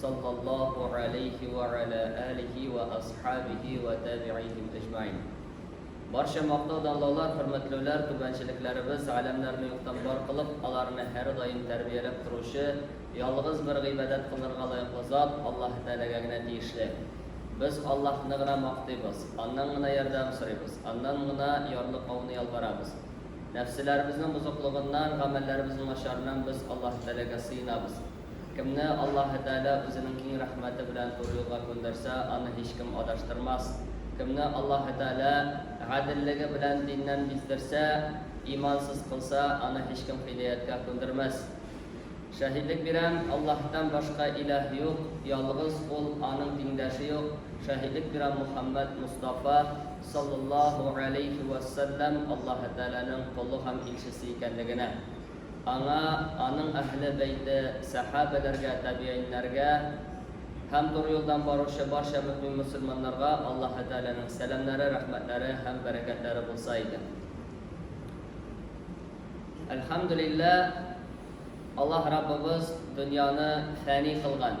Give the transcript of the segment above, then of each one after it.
саллаллаһу алейһи вә галә алихи вә асхабихи вә табигихим әҗмәин. Барча мактау данлаулар, хөрмәтләүләр түбәнчелекләребез, галәмнәрне юктан бар кылып, аларны һәрдаим тәрбияләп торучы, ялгыз бер гыйбадәт кылырга лаеклы зат Аллаһы Тәгаләгә генә тиешле. Без Аллаһны гына мактыйбыз, Аннан гына ярдәм сорыйбыз, Аннан гына ярлыкауны ялварабыз. Нәфселәребезнең бозыклыгыннан, гамәлләребезнең начарыннан без Аллаһы Тәгаләгә сыенабыз. Кемне Аллаһы Тәгалә Үзенең киң рәхмәте белән туры юлга күндерсә, аны һичкем адаштырмас. Кемне Аллаһы Тәгалә гаделлеге белән диннән биздерсә, имансыз кылса, аны һичкем һидаяткә күндермәс. Шаһидлек бирәм, Аллаһтан башка илаһ юк, ялгыз Ул, Аның тиңдәше юк. Шаһидлек бирәм, Мухәммәд Мостафа, саллаллаһу галәйһи вә салләм, Аллаһы Тәгаләнең колы һәм илчесе икәнлегенә. Аңа, аның әһле бәйте, сәхабәләргә, табигыйньнәргә һәм туры юлдан баручы барча мөэмин-мөселманнарга Аллаһы Тәгаләнең сәламнәре, рәхмәтләре һәм бәрәкәтләре булса иде. Әлхәмдүлилләһ, Аллаһ Раббыбыз дөньяны фәни кылган.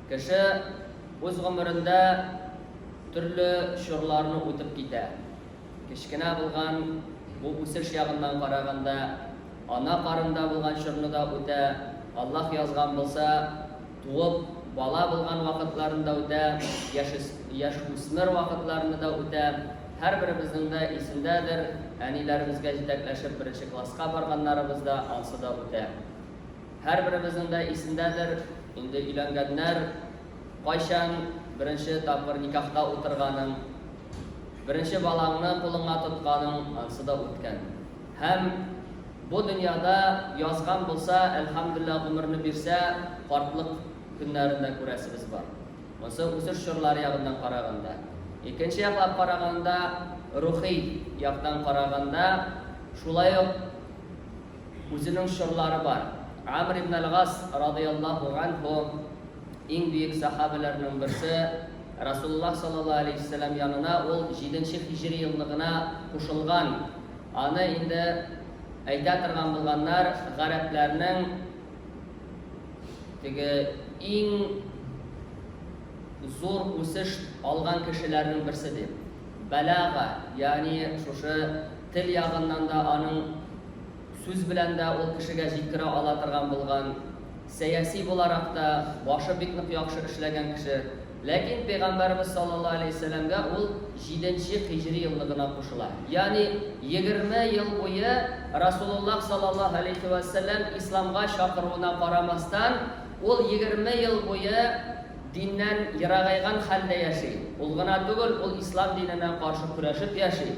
Кеше үз гомерендә төрле чорларны үтеп китә. Кечкенә булган бу үсеш ягыннан караганда, ана карында булган чорны да үтә, Аллаһ язган булса, туып, бала булган вакытларын да үтә, яшүс яшүсмер вакытларны да үтә. Һәрберебезнең дә исендәдер, әниләребезгә җитәкләшеп беренче класска барганнарыбыз да, ансы да үтә. Һәрберебезнең дә исендәдер, инде өйләнгәннәр, кайчан беренче тапкыр никахта утырганың, беренче балаңны кулыңа тотканың, ансы да үткән. Һәм бу дөньяда язган булса, әлхәмдүлләһ, гомерне бирсә, картлык көннәрен дә күрәсебез бар. Монсы үсеш чорлары ягыннан караганда. Икенче яклап караганда, рухи яктан караганда, шулай ук. Үзенең чорлары бар. Амр ибн әл-Гас, радыйяллаһу ганһу, иң бөек сәхабәләрнең берсе, Расулуллаһ саллаллаһу галәйһи ва сәлләм янына ул җиденче һиҗри елны гына кушылган. Аны инде әйтә торган булганнар, гарәпләрнең теге иң зур үсеш алган кешеләрнең берсе дип. Бәлага, ягъни шушы Тел ягыннан да аның сүз белән дә ул кешегә җиткерә ала торган булган, сәяси буларак та башы бик нык яхшы эшләгән кеше. Ләкин Пәйгамбәребез саллаллаһу аләйһи вәсәләмгә ул җиденче хиҗри елны гына кушыла. Ягъни егерме ел буе Расулуллаһ саллаллаһу аләйһи вәсәләм исламга чакыруына карамастан, ул егерме ел буе диннән ерагайган хәлдә яши. Ул гына түгел, ул ислам диненә каршы көрәшеп яши.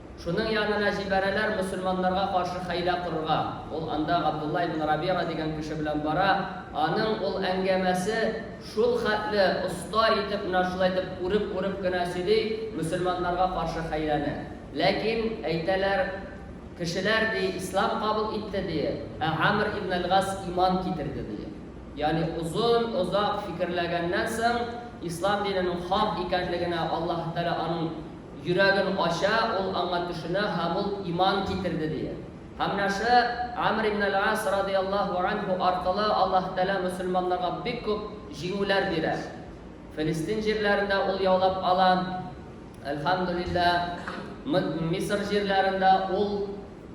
Шуның янына җибәрәләр мөселманнарга каршы хәйлә корырга. Ул анда Габдулла ибн Рабига дигән кеше белән бара, аның ул әңгәмәсе шул хәтле оста итеп, менә шулай итеп үреп-үреп кенә сөйли мөселманнарга каршы хәйләне. Ләкин, әйтәләр, кешеләр, ди, ислам кабул итте, ди, ә Амр ибн әл-Гас иман китерде, ди. Ягъни озын, озак фикерләгәннән соң, ислам диненең хак икәнлегенә Аллаһы Тәгалә аның. Йөрәген ача, ул аңа төшенә һәм ул иман китерде, дия. Һәм менә шы Амр ибн әл-Ас радыяллаһу анһу аркылы Аллаһ Тәгалә мөселманнарга бик күп җиңүләр бирә. Филистин җирләрен дә ул яулап ала, әлхәмдүлилләһ, Мы, Мисыр җирләрен дә ул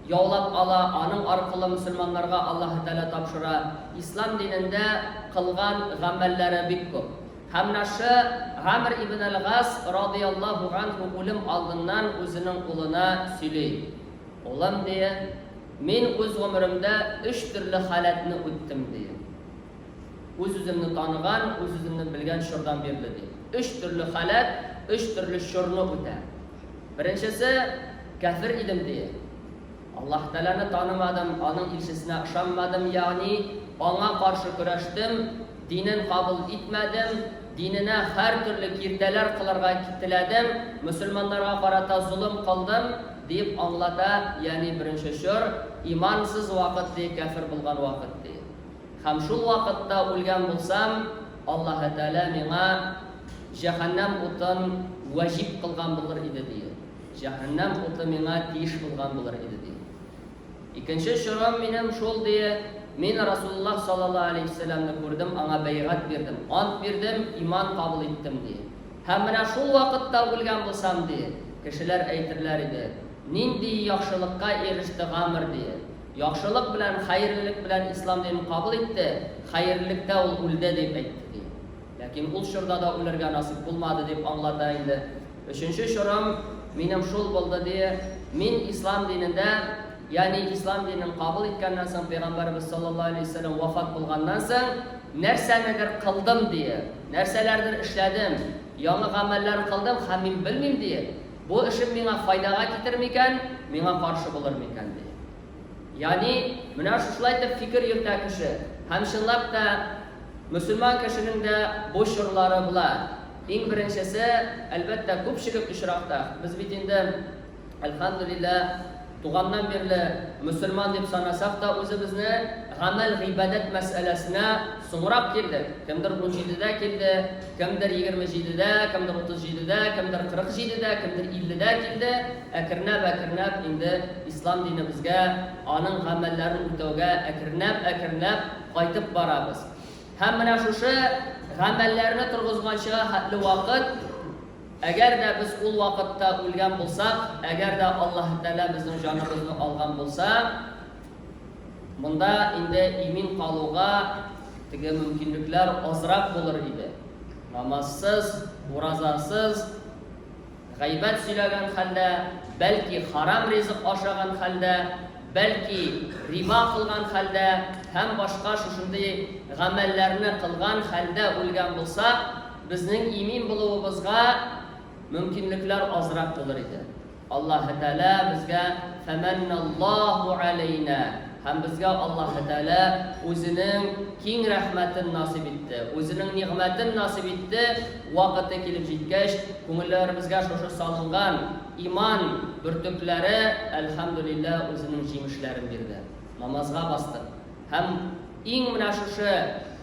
яулап ала, аның аркылы мөселманнарга Аллаһ Тәгалә тапшыра. Ислам динендә кылган гамәлләре бик күп. Һәм Наше, Гамр ибн әл-Гас радыяллаһу ганһу үлем алдыннан үзенең улына сөйли, Улым, дие, мин үз гомеремдә өч төрле халәтне үттем, дие. Үз-үземне таныган, үз-үземне белгән чордан бирле, ди. Өч төрле халәт, өч төрле чорны үтә. Беренчесе, кәфер идем, дие. Аллаһ Тәгаләне танымадым, Аның илчесенә ышанмадым, ягъни Аңа каршы көрәштем, динен кабул итмәдем, диненә һәртөрле киртәләр кылырга теләдем, мөселманнарга карата золым кылдым, дип аңлата, ягъни беренче чор, имансыз вакыт, ди, кяфер булган вакыт, ди. Һәм шул вакытта үлгән булсам, Аллаһы Тәгалә миңа җәһәннәм утын ваҗиб кылган булыр иде, ди. Җәһәннәм уты миңа тиеш булган булыр иде, ди. Икенче чорым минем шул, ди, мин Расулуллаһ саллаллаһу галәйһи вә сәлләмне күрдем, аңа бәйгать бирдем, ант бирдем, иман кабул иттем, ди. Һәм менә шул вакытта үлгән булсам, ди, кешеләр әйтерләр иде, Нинди яхшылыкка иреште Гамр, ди. Яхшылык белән, хәерлелек белән ислам динен кабул итте, хәерлелектә ул үлде, дип әйтте, ди. Ләкин ул чорда да үлергә насыйп булмады, дип аңлата инде. Өченче чорым минем шул булды, ди. Мин ислам динендә, ягъни ислам динен кабул иткәннән соң, пәйгамбәребез саллаллаһу алейһи вә сәлләм вафат булганнан соң, нәрсәнедер кылдым, ди. Нәрсәләрдер эшләдем, яңа гамәлләр кылдым һәм мин белмим, ди, бу эшем миңа файдага китер микән, миңа каршы булыр микән, ди. Ягъни, менә шушылай итеп фикер йөртә кеше. Һәм чынлап та, мөселман кешенең дә бу чорлары була. Иң беренчесе, әлбәттә, күпчелек очракта, без бит инде, әлхәмдүлиллә, туганнан бирле мөселман дип санасак та үзебезне, гамәл-гыйбадәт мәсьәләсенә соңрак килдек. Кемдер унҗидедә килде, кемдер егерме җидедә, кемдер утыз җидедә, кемдер кырык җидедә, кемдер илледә килде. Әкренләп-әкренләп инде Ислам динебезгә, аның гамәлләрен үтәүгә әкренләп-әкренләп кайтып барабыз. Һәм менә шушы гамәлләрне торгызганчыга хәтле вакыт, әгәр дә без ул вакытта үлгән булсак, әгәр дә Аллаһы Тәгалә безнең җаныбызны алган булса, монда инде имин калуга теге мөмкинлекләр азрак булыр иде. Намазсыз, уразасыз. Гайбәт сөйләгән хәлдә, бәлки харам ризык ашаган хәлдә, бәлки риба кылган хәлдә һәм башка шушындый гамәлләрне кылган хәлдә үлгән булсак, безнең имин булуыбызга мөмкинлекләр азрак булыр иде. Аллаһы Тәгалә безгә фәмәнналлаһу галәйнә һәм безгә Аллаһы Тәгалә Үзенең киң рәхмәтен насыйп итте, Үзенең нигъмәтен насыйп итте, Вакыты килеп җиткәч, күңелләребезгә шушы салынган иман бөртекләре, әлхәмдүлиллә, үзенең җимешләрен бирде. Намазга бастык. Һәм иң менә шушы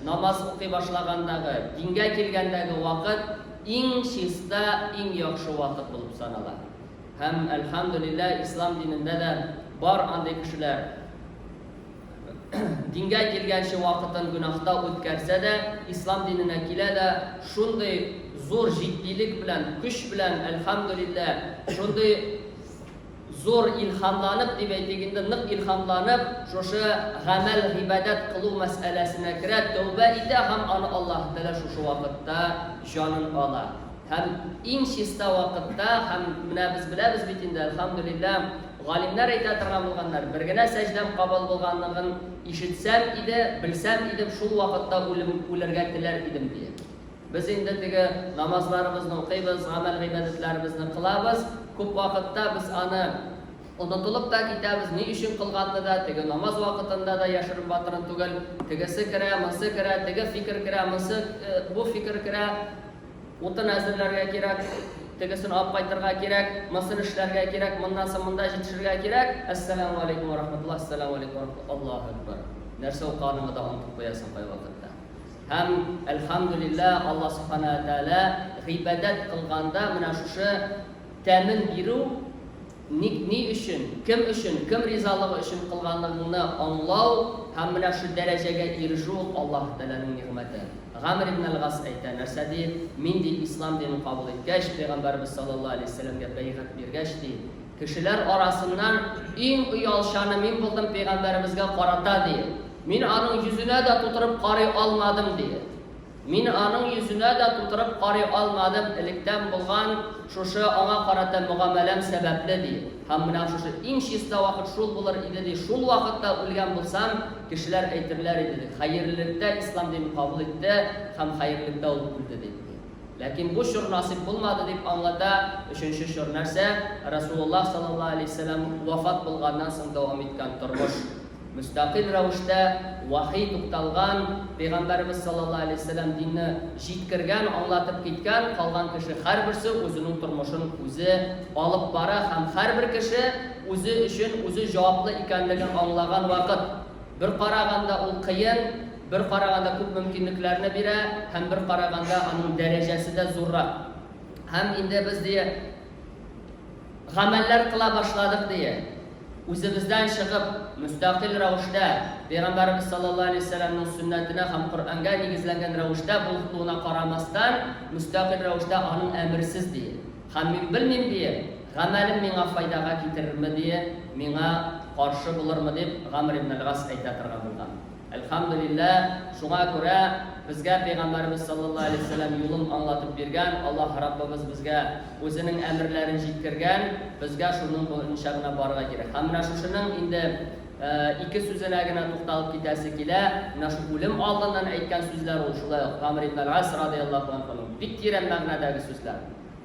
намаз укый башлагандагы, дингә килгәндәге вакыт иң чиста, иң яхшы вакыт булып санала. Һәм, әлхәмдүлиллә, ислам динендә дә бар андый кешеләр. Дингә килгәнче вакытын гөнаһта үткәрсә дә, ислам диненә килә дә, шундый зур җитдилек белән, көч белән, әлхәмдүлилләһ, шундый зур илһамланып, дип әйтик инде, нык илһамланып, шушы гамәл, гыйбадәт кылу мәсьәләсенә керә, тәүбә итә һәм аны Аллаһы Тәгалә шушы вакытта җанын ала. Һәм иң чиста вакытта, һәм менә без беләбез бит инде, әлхәмдүлилләһ, Галимнәр әйтә торган булганнар, Бер генә сәҗдәм кабул булганлыгын ишетсәм иде, белсәм идем, шул вакытта үлем, үлергә теләр идем, дия. Без инде теге намазларыбызны укыйбыз, гамәл-гыйбадәтләребезне кылабыз, күп вакытта без аны онытылып та китәбез, ни өчен кылганны да, теге намаз вакытында да яшерен-батырын түгел, тегесе керә, монсы керә, теге фикер керә, монсы, бу фикер керә, Утын әзерләргә кирәк, тегесен алып кайтырга кирәк, мосын эшләргә кирәк, моннан соң монда җитешергә кирәк. Әссәләмү галәйкүм вә рахмәтуллаһ, Әссәләмү галәйкүм вә рахмәтуллаһ, Аллаһу әкбәр. Нәрсә укыганыңны да онытып куясың кайвакытта. Һәм, әлхәмдүлилләһ, Аллаһ Субхана вә Тәгалә гыйбадәт кылганда менә шушы тәмен бирү, Ник, ни өчен, кем өчен, кем ризалыгы өчен кылганыңны аңлау һәм менә шул дәрәҗәгә ирешү ул Аллаһы Тәгаләнең нигъмәте. Гамр ибн әл-Гас әйтә, нәрсә ди, Мин, ди, Ислам динен кабул иткәч, Пәйгамбәребез саллаллаһу галәйһи ва сәлләмгә бәйгать биргәч, ди, кешеләр арасыннан иң оялчаны мин булдым Пәйгамбәребезгә карата, ди. Мин аның йөзенә дә тутырып карый алмадым, ди. Мин аның йөзенә дә тутырып карый алмадым, электән булган шушы аңа карата мөгамәләм сәбәпле, ди һәм менә шушы иң чиста вакыт шул булыр иде, ди, шул вакытта үлгән булсам, кешеләр әйтерләр иде, ди, хәерлелектә ислам динен кабул итте һәм хәерлелектә ул үлде, дип, ди. Ләкин бу чор насыйп булмады, дип аңлата Өченче чор нәрсә? Рәсулуллаһ саллаллаһу алейһи ва сәлләм вафат булганнан соң дәвам иткән тормыш. Мөстәкыйль рәвештә вәхи тукталган, Пәйгамбәребез саллаллаһу галәйһи ва сәлләм динне җиткергән, аңлатып киткән, калган кеше һәрберсе үзенең тормышын үзе алып бара һәм һәрбер кеше үзе өчен үзе җаваплы икәнлеген аңлаган вакыт, бер караганда ул кыен, бер караганда күп мөмкинлекләрне бирә һәм бер караганда аның дәрәҗәсе дә зуррак. Һәм инде без ди. Гамәлләр кыла башладык дия. Үзебездән чыгып, мөстәкыйль рәвештә, Пәйгамбәребез саллаллаһу алейһи ва сәлләмнең сөннәтенә һәм Коръәнгә нигезләнгән рәвештә булхтуына карамастан, мөстәкыйль рәвештә аның әмерсез дия. Һәм мин белмим дия, гамәлем миңа файдага китерерме дия, миңа каршы булырмы дип Гамр ибн әл-Гас әйтә торган булган. Әлхәмдүлилләһ, шуңа күрә безгә Пәйгамбәребез саллаллаһу галәйһи ва сәлләм юлын аңлатып биргән, Аллаһ Раббыбыз безгә Үзенең әмерләрен җиткергән, безгә шуның буенча гына барырга кирәк. Һәм менә шушының инде ике сүзенә генә тукталып китәсе килә, менә шул үлем алдыннан әйткән сүзләр ул шулай ук Гамр ибн әл-Ас радыяллаһу анһуның бик тирән мәгънәдәге сүзләр,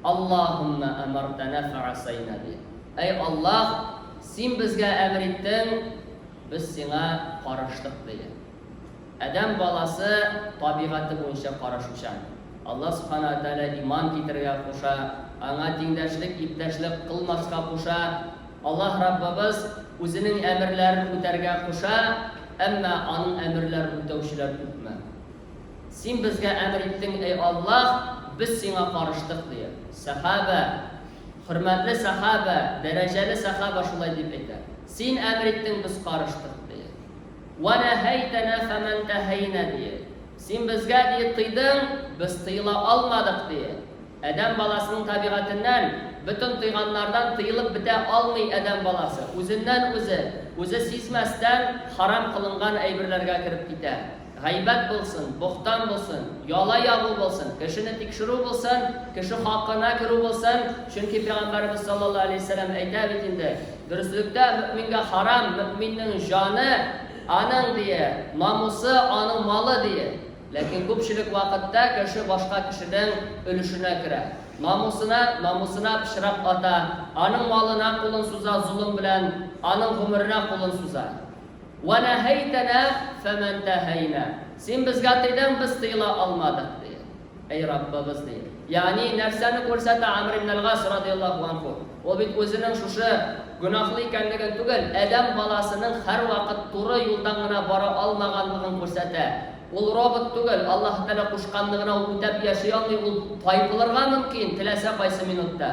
Аллаһуммә әмартәнә фәгасәйнә, ди. Әй Аллаһ, Син безгә әмер иттең, Без сиңа караштык, диде. Адәм баласы табигате буенча карашучан. Аллаһ Субхана ва Тәгалә иман китерергә куша, Аңа тиңдәшлек, иптәшлек кылмаска куша. Аллаһ Раббыбыз Үзенең әмерләрен үтәргә куша, әмма Аның әмерләрен үтәүчеләр күпме? Син безгә әмер иттең, әй Аллаһ, без сиңа карыштык, ди. Сәхабә, хөрмәтле сәхабә, дәрәҗәле сәхабә шулай дип әйтә. Син әмер иттең, без карыштык, дие. Вә нәһәйтәнә фә мән тәһәйнә, дие. Син безгә, дие, тыйдың, без тыела алмадык, дие. Адәм баласының табигатеннән, бөтен тыйганнардан тыелып бетә алмый адәм баласы, үзеннән-үзе, үзе сизмәстән, харам кылынган әйберләргә кереп китә. Гайбәт булсын, бохтан булсын, яла ягу булсын, кешене тикшерү булсын, кеше хакына керү булсын, чөнки Пәйгамбәребез саллаллаһу галәйһи ва сәлләм әйтә бит инде, Дөреслектә мөэмингә харам, мөэминнең җаны, аның, дие, намусы, аның малы, дие. Ләкин күпчелек вакытта кеше башка кешенең өлешенә керә. Намусына, намусына пычрак ата, аның малына кулын суза золым белән, аның гомеренә кулын суза. Вә нәһәйтәнә фәмән тәһәйнә. Син безгә тыйдың, без тыела алмадык, ди. Әй Раббыбыз, ди. Ягъни, нәрсәне күрсәтә Амр ибн әл-Гас радыяллаһу анһу? Ул бит үзенең шушы гөнаһлы икәнлеген түгел, адәм баласының һәрвакыт туры юлдан гына бара алмаганлыгын күрсәтә. Ул робот түгел, Аллаһы Тәгалә кушканны гына ул үтәп яши алмый, ул тайпылырга мөмкин, теләсә кайсы минутта.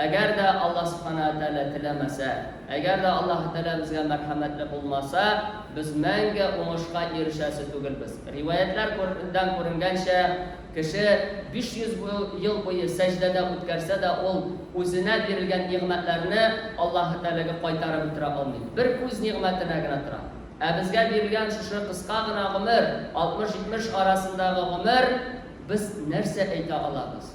Әгәр дә Аллаһ Субханаһу ва Тәгалә теләмәсә, әгәр дә Аллаһы Тәгалә безгә мәрхәмәтле булмаса, без мәңге уңышка ирешәсе түгелбез. Риваятьләр күр дән күренгәнчә, кеше 500 бу ел буе сәҗдәдә үткәрсә дә, ул үзенә бирелгән нигъмәтләрне Аллаһы Тәгаләгә кайтарып бетерә алмый. Бер күз нигъмәтенә генә тора. Ә безгә бирелгән шушы кыска гына гомер, 60-70 арасындагы гомер, без нәрсә әйтә алабыз?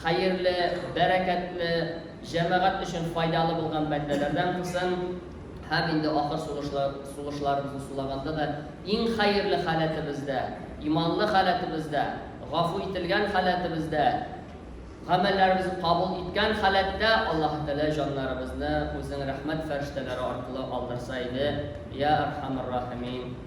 Хәерле, бәрәкәтле, җәмәгать өчен файдалы булган бәндәләрдән кылсын, һәм инде ахыр сулышлы сулышларыбызны сулаганда да иң хәерле халәтебездә, иманлы халәтебездә, гафу ителгән халәтебездә, гамәлләребезне кабул иткән халәттә Аллаһы Тәгалә җаннарыбызны Үзенең рәхмәт фәрештәләре аркылы алдырса иде, Йә Әрхәмәр Рахимин.